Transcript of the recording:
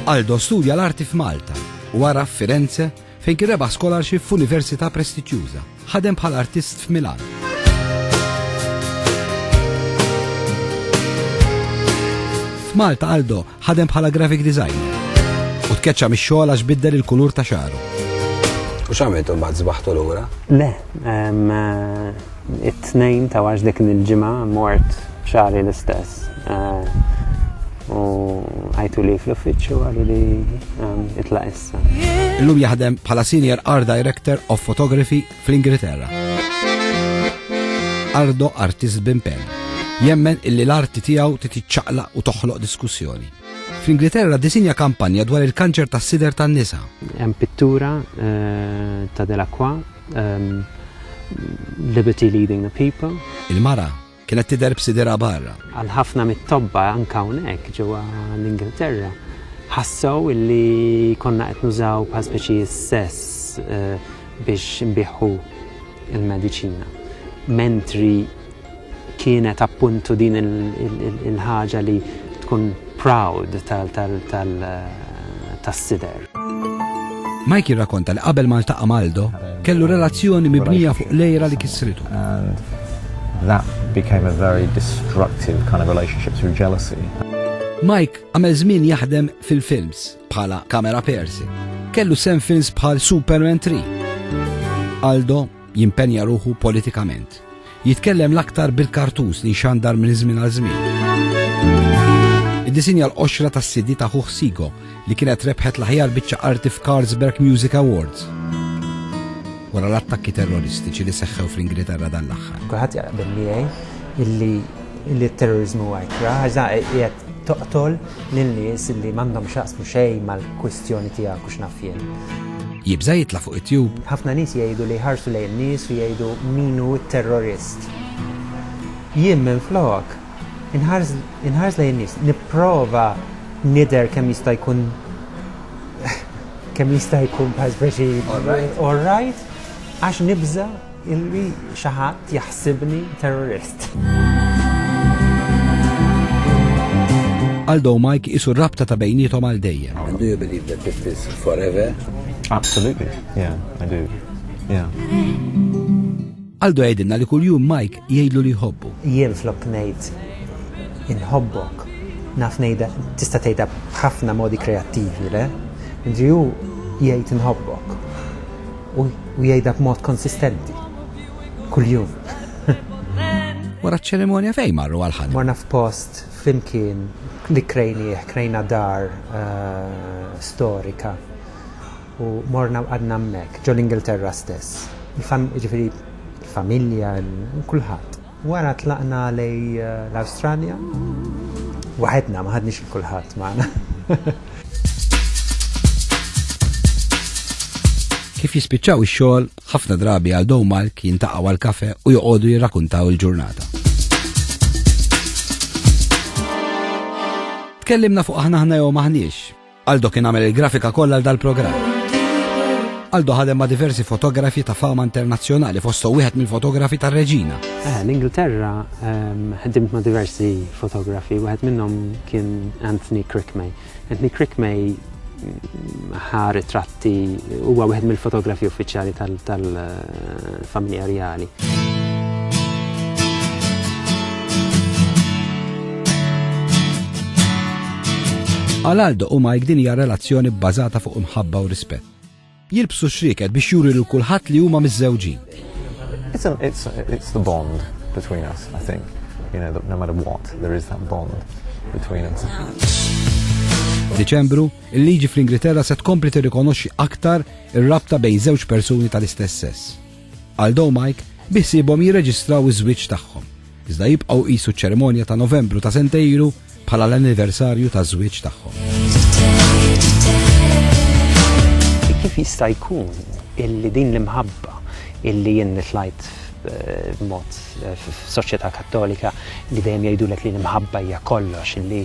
Aldo studja l-arti f'Malta u għara f'Firenze fejn kien rebaħ scholarship f'università prestiġjuża. Ħadem bħal artist f'Milan. F'Malta Aldo ħadem bħala graphic designer u tkeċċa mix-xogħol għax biddel il-kulur ta' xaru. U x'għamilt imbagħad żbaħtu lura? Le, eh, it-tnejn ta' għax dik il-ġimgħa mort xari l-istess. Eh, u għajtu li fl-uffiċċju għallu li eh, itlaq issa. Illum jaħdem bħala Senior Art Director of Photography fl-Ingilterra. Ardo artist bimpen, jemmen illi l-arti tiegħu titiċċaqlaq u toħloq diskussjoni. Fl-Ingilterra disinja kampanja dwar il-kanċer tas sider tan-nisa. Hemm pittura eh, ta' Delacroix, ehm, Liberty Leading the People. Il-mara Kienet tidher b'sidirha barra. Għal ħafna mit-tobba anke hawnhekk ġewwa l-Ingilterra ħassew illi konna qed nużaw bħal speċi sess biex nbieħħu l-mediċina. Mentri kienet appuntu din il-ħaġa li tkun proud tas-sider. Mike jirrakonta li qabel ma ltaqa' m'Aldo, kellu relazzjoni mibnija fuq l-għira li kissritu. Mike għamel żmien jaħdem fil-films bħala camera person. Kellu sehem f'films bħal Superman 3. Aldo Jimpenja ruħu politikament. Jitkellem l-aktar bil-kartuz li xandar minn żmien għal żmien. Iddisinja l-qoxra tas sidi ta' Huħ Sigo li kienet rebħet l-aħjar biċċa arti f'Carlsberg Music Awards wara l-attakki terroristiċi li seħħew fl-Ingilterra dan l-aħħar. Kulħadd jaqbel miegħi illi illi terrorizmu għajkra, għax dan qiegħed Toqtol lil nies li m'għandhom x'jaqsmu xejn mal-kwistjoni tiegħek u x'naf jien. Jibża' jitla' fuq it-tube. Ħafna nies jgħidu li jħarsu lejn nies u jgħidu min hu t-terrorist. Jien minflok, inħares inħares lejn in-nies, nipprova nidher kemm jista' jkun kemm jista' jkun bħal speċi all right għax nibża' Illi xi ħadd jaħsibni terrorist. Aldo u Mike isu rabta ta' bejnietom għal dejjem. Do you believe that it is forever? Absolutely, yeah, I do. Yeah. Aldo għedinna li kull jum Mike jgħidlu li jħobbu. Jien flok ngħid inħobbok. Naf ngħidha tista' tgħidha b'ħafna modi kreattivi, le? Indri hu jgħid inħobbok. U jgħidha b'mod konsistenti. Kuljum. Wara ċ-ċerimonja fejn marru għal ħanib? Morna f'post flimkien li krejnieh, krejna dar eh, storika u morna għadna hemmhekk ġol-Ingilterra stess. Il-familja, kulħadd. Wara tlaqna lejn l-Awstralja waħedna, ma ħadniex lil kulħadd magħna. Kif jispiċċaw ix-xogħol, ħafna drabi għal Dow Malk jintaqgħu għal kafe u joqogħdu jirrakuntaw il-ġurnata. Tkellimna fuq aħna aħna jew maħniex, Aldo kien għamel il-grafika kollha għal dal-programm. Aldo ħadem ma' diversi fotografi ta' fama internazzjonali fosthom wieħed mill-fotografi tar-Reġina. Eh, L-Ingilterra ehm, ħdimt ma' diversi fotografi, wieħed minnhom kien Anthony Crickmay. Anthony Crickmay mm, ħa ritratt Ti huwa wieħed mill-fotografi uffiċjali tal-familja reali. Għal Aldo u Mike din hija relazzjoni bbażata fuq imħabba u rispett. Jilbsu xriket biex juri lil kulħadd li huma miżżewġin. It's, it's, it's the bond between us, I think. You know, no matter what, there is that bond between us. Deċembru Il-liġi fl-Ingilterra se tkompli tirrikonoxxi aktar ir-rabta bejn żewġ persuni tal-istess sess. Aldo u Mike biħsiebhom jirreġistraw iż-żwieġ tagħhom, iżda jibqgħu jqisu ċ-ċerimonja ta' Novembru ta' sentejn ilu bħala l-anniversarju taż-żwieġ tagħhom. Kif jista' jkun illi din l-imħabba illi jien nitlajt b'mod eh, eh, f'soċjetà kattolika li dejjem jgħidulek li l-imħabba hija kollox, li